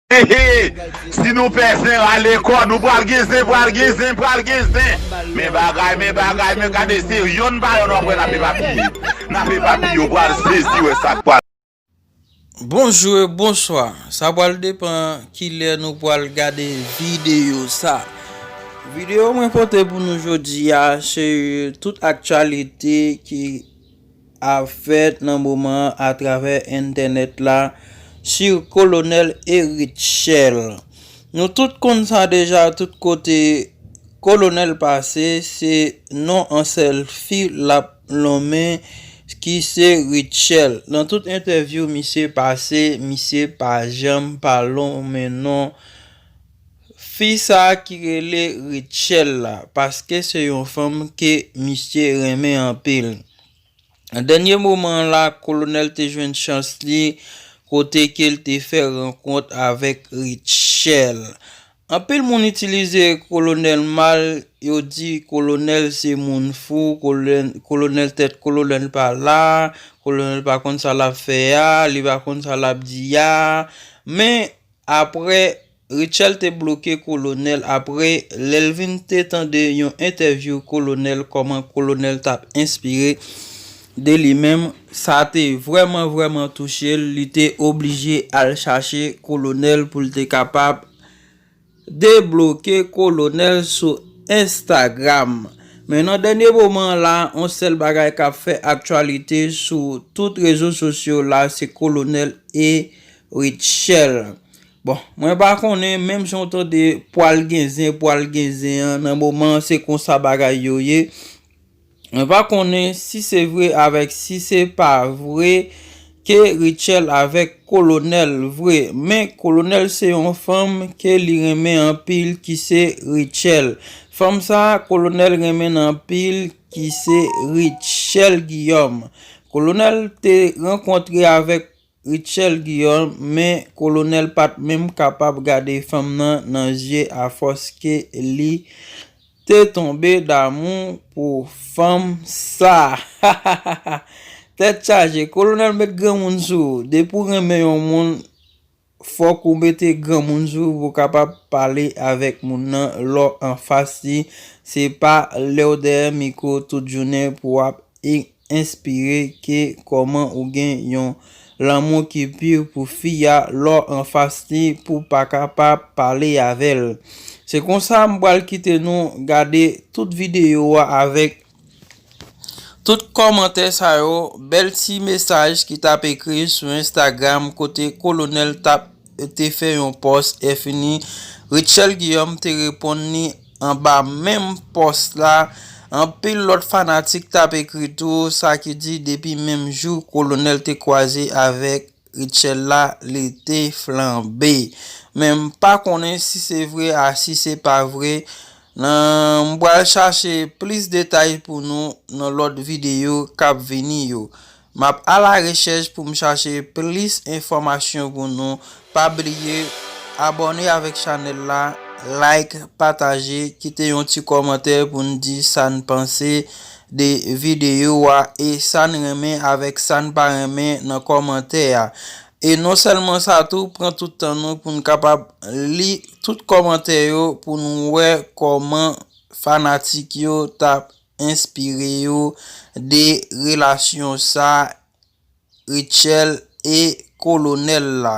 Hehe si nou pè zen rale kò nou pral gen zen pral gen zen pral gen zen men bagay men bagay men gade se yonn pa yonn wap wè nap epapiye nap epapiye ou pral sezi wè sak pral Bonjou e bonswa, sa pral depan kilè nou pral gade videyo sa. Videyo mwen pote pou nou jodi a se tout aktyalite ki. ap fèt nan moman an atravè entènèt la si kolonèl Erit Chèl. Nou tout konn sa deja tout kote kolonèl pase se non an sèlfi l ap lonmen ki se Ritchèl. Nan tout entèvyou misye pase misye pa janm pa lonmen non Fi sa ki rele Rutshelle la paske se yon fanm ke misye renmen anpil. Nan dènye moman an la Kolonèl te jwenn chans li kote ke l te fè rankont avèk Rutshelle. Anpil moun itilize Kolonèl mal, yo di Kolonèl se moun fou, Kolonèl tèt Kolonèl pa la, Kolonèl pa konn sa l ap fè a, li pa konn sa l ap di a. Men aprè Rutshelle te bloke kolonel apre lèl vin te tande yon entèvyou kolonel kòman kolonel tap enspire de li menm sa te vrèman vrèman touchel li te oblije al chache kolonel poul te kapab debloke kolonel sou Instagram men nan dènye moman la on sèl bagay kap fè aktyalite sou tout rezo sosyo la se kolonel e Rutshelle. Bon mwen pa konnen menm jan w tande pwal gen zen pwal gen zen an nan moman an se konsa bagay yo ye mwen pa konnen si se vre avèk si se pa vre ke Rutshelle avèk kolonèl vre men kolonèl se yon fanm ke li renmen anpil ki se Rutshelle fanm sa kolonèl renmen n anpil ki se Rutshelle Guillaume kolonèl te rankontre avèk Rutshelle Guillaume, men Kolonel pat menm kapab gade fanm nan nan zye a fòs ke li te tonbe damou pou fanm sa hahahaha tèt chaje Kolonel met granmoun sou ou depi ou renmen yon moun fòk ou mete granmoun sou ou pou kapab pale avèk moun nan lè w anfas li se pa lèw dèyè mikro tout jounen pou wap e enspire ke kòman ou gen yon lanmou ki pur pou fi a lè w anfas li pou w pa ka pa pale avè l. Se konsa m pral kite nou gade tout videyo a avèk tout kòmantè sa yo, bèl ti mesaj ki tap ekri sou Instagram kote Kolonèl tap. Yo te fè yon pòs efini. Rutshelle Guillaume te reponn li anba menm pòs la. Anpil lòt fanatik t ap ekri tou, sa ki di depi menm jou Kolonèl te kwaze avèk Rutshelle la, li te flanbe. Men m pa konnen si se vre a si se pa vre nan, m pral chache plis detay pou nou nan lòt videyo k ap vini yo. Map ala rechèch poum chache plis enfòmasyon pou nou pa bliye abòne avèk chanèl la like pataje kite yon ti kòmantè poun di san panse de videyo a e san renmen avèk san pa renmen nan kòmantè a e non sèlman sa tou pran tout tan nou poun kapab li tout kòmantè yo poun wè kòman fanatik yo tap enspire yo de relasyon sa Rutshell e kolonel la.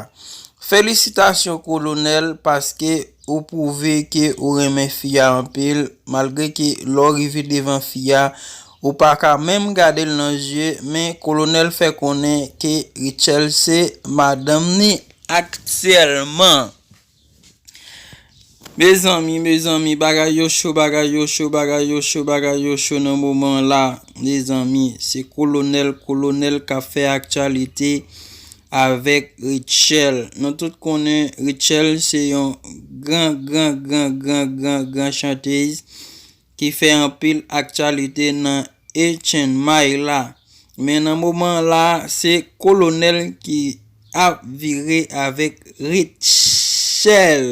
Felisitasyon kolonel paske ou pwouve ke ou renmen fi a anpil malgre ke lè w rive devan fi a ou pa ka menm gade l nan zye men kolonel fè konnen ke Rutshell se madanm ni aktyèlman. Mezanmi mezanmi bagay yo cho bagay yo cho bagay yo cho bagay yo cho nan moman an la mezanmi se kolonèl kolonèl kap fè aktyalite avèk Rutshelle nou tout konnen Rutshelle se yon gran gran gran gran gran gran chantez ki fè anpil aktyalite nan e Chen Mai la. Men nan moman la se kolonèl ki ap vire avèk Rutshelle.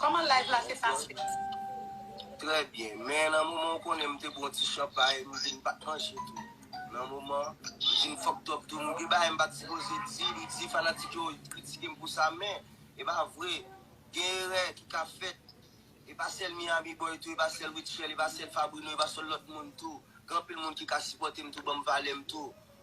Koman live la te pase? Trè byen, men nan moman ou konnen m te bwon ti chanpay, m di m pa t manje tou. Nan moman, m di m fokd up tou, m gen bagay m pa t sipoze di, m di fanatik yo kritike m pou sa men, e pa vre, gen erè ki ka fèt, e pa sèl Miami Boy tou, e pa sèl Rutshelle, e pa sèl Fabrino, e pa sèl lòt moun tou, gen anpil moun ki ka sipòte m tou, ban m valè m tou.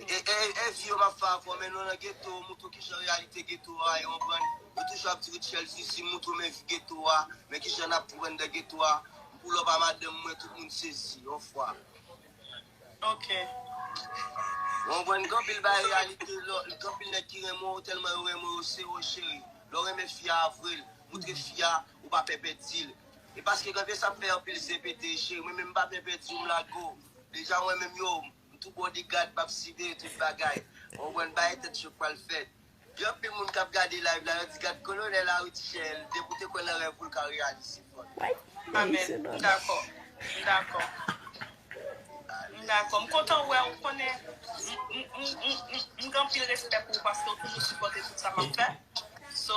Eeyy fi yo map fè akò men nou nan geto mouton kijan reyalite geto a e konprann yo toujou ap di Rutshelle zuzu mouton men vi geto a men kijan nap konprann de geto a m pull up a madanm mwen tout moun sezi yon fwa ok ou konprann gen anpil bagay reyalite lò gen anpil nèg ki renmen w tèlman yo renmen w yo sere w cheri lè w renmen fi a avre l moutre fi a ou pa pè pèdi l e paske gen anpil sa ap fè anpil zen pete cheri mwen menm m pa pè pèdi w m lage w deja mwen menm yo M tou bodyguard map siveye tout bagay ou konn bagay tèt chok pral fèt gen anpil moun kap gade live la yo di gad kolonel la wi ti chèèl depi ou te kwè nan rèv ou l ka reyalize fòl. Amen m dakò m dakò m dakò m kontan wè ou konnen m m m gen anpil respè pou ou paske ou toujou sipòte tout sa map fè so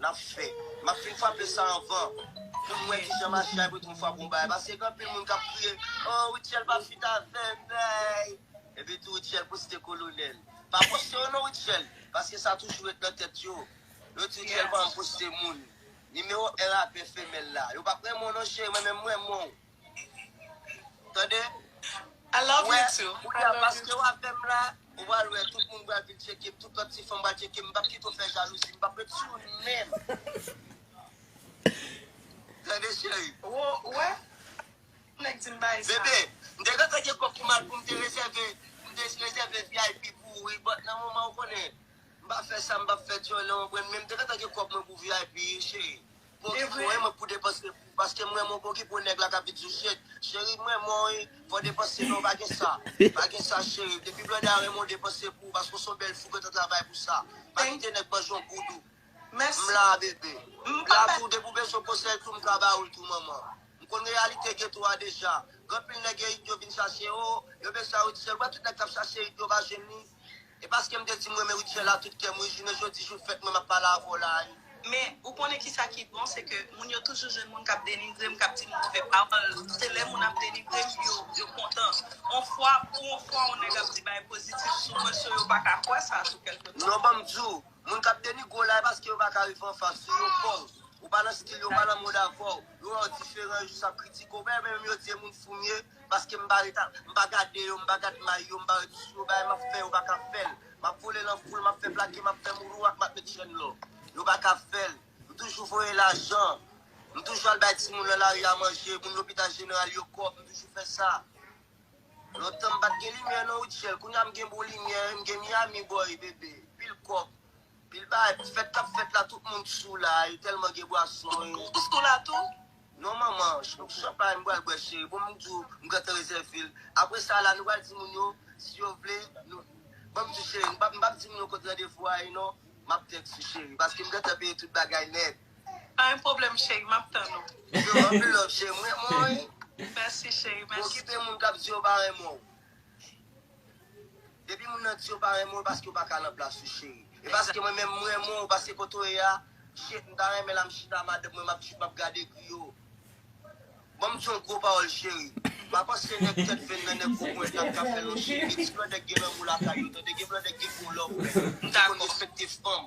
nap fè. Map fin frape sa anvan pou nou wè kijan mache a epi tou m frape yon bagay paske gen anpil moun kap kriye oh Rutshelle pa fit avèm eeyy epi tou Rutshelle poste kolonèl pa poste yo non Rutshelle paske sa toujou ret nan tèt yo yo di Rutshelle pa renmn poste moun nimewo 1 rapè femèl la yo pap renmen w non cheri mwen menm m renmen w Tande ou wè kounye a paske w avè m la ou pral wè tout moun pral vin tcheke m tout lòt ti fanm pral tcheke m m pap kite w fè jalouzi m pap ret sou ou menm Tande cheri ou wè nèg di m bay sa Bebe m te gentan gen kòb pou m al pou m te rezève m te rezève vip pou ou wi bòt nan moman ou konnen m pa fè sa m pap fè dyòlè ou konprann men m te gentan gen kòb mwen pou vip cheri Bogi m renmen w pou depanse pou ou paske m renmen w Bogi pou nèg la kap vin sou chet Cheri m renmen w wi fò depanse non pa gen sa pa gen sa cheri depi Blondedy renmen w depanse pou ou paske w son bèl fi kontan travay pou sa pa kite nèg manje w boud ou m la bebe m la pou ou depi w bezwen konsèy tou m ka ba ou l tou manman m konn reyalite geto a deja gen anpil nèg e it yo vin chache ou yo bezwen a ou di sèl wè tout nèg kap chache it yo pa jwenn li. E paske m te di m renmen Rutshelle a tout kè m wi jounen jodi jou fèt mwen m ap pale avè w la a wi. Men, ou konnen ki sa ki bon, se ke moun yo toujou jwenn moun k ap denigre m, k ap di m move pawòl. Se lè moun ap denigre m yo yo kontan. On fwa, pou on fwa on nèg ap di bagay pozitif sou mwen sou yo pa ka kwè sa sou kèlke tan. Non ban m di w, moun k ap denigre w la e paske yo pa ka rive anfas ou, yo pè w. Ou pa nan skill yo, yo pa nan mond avè w. Yo wè w diferan, yo jis ap kritike w. Ou pa wè menm yo di e moun fou m ye? Paske m pa ret a M pa gade yo M pa gad may yo M pa ret sou yo Bagay m ap fè yo pa ka fè l M ap vole lan foul M ap fè plake M ap fè moulou ak M ap met chèn lò Yo pa ka fè l M toujou voye lajan M toujou al bay timoun lan lari a manje Moun lopital jeneral yo kòb M toujou fè sa Lontan m pat gen limyè nan Rutshelle Kounye a m gen bon limyè M gen Miami boy bebe Pil kòb Pil bagay Fèt k ap fèt la Tout moun sou la Yo tèlman gen bwason Ou sou la tou? Non manman, chòp pa m pral bwè cheri, bonm di w m gentan rezève l. Apre sa la nou pral di moun yo si yo vle nou Bonm di w cheri, m pap m pap di moun yo kot randevou a ye non, map tèks ou cheri, paske m gentan peye tout bagay nèt. Pa gen pwoblèm cheri, map tann ou. Yo anpil love cheri, m renmen w wi. Mèsi cheri, mèsi tou. Okipe moun kap di yo pa renmen w. Depi moun nan di yo pa renmen w paske yo paka nan plas ou cheri. E paske mwen menm m renmen w paske kote w ye a shit m ta renmen la m chita madanm mwen map chit map gade griyo. Banm di yon gwo pawòl cheri. Pa panse nèg tèt venn nan nèg gwo ponyèt nan kap fè l non cheri. Gen ti blòdè k gen lanmou lakay yo tande gen blòdè k gen gwo love men. M di konn respekte fanm.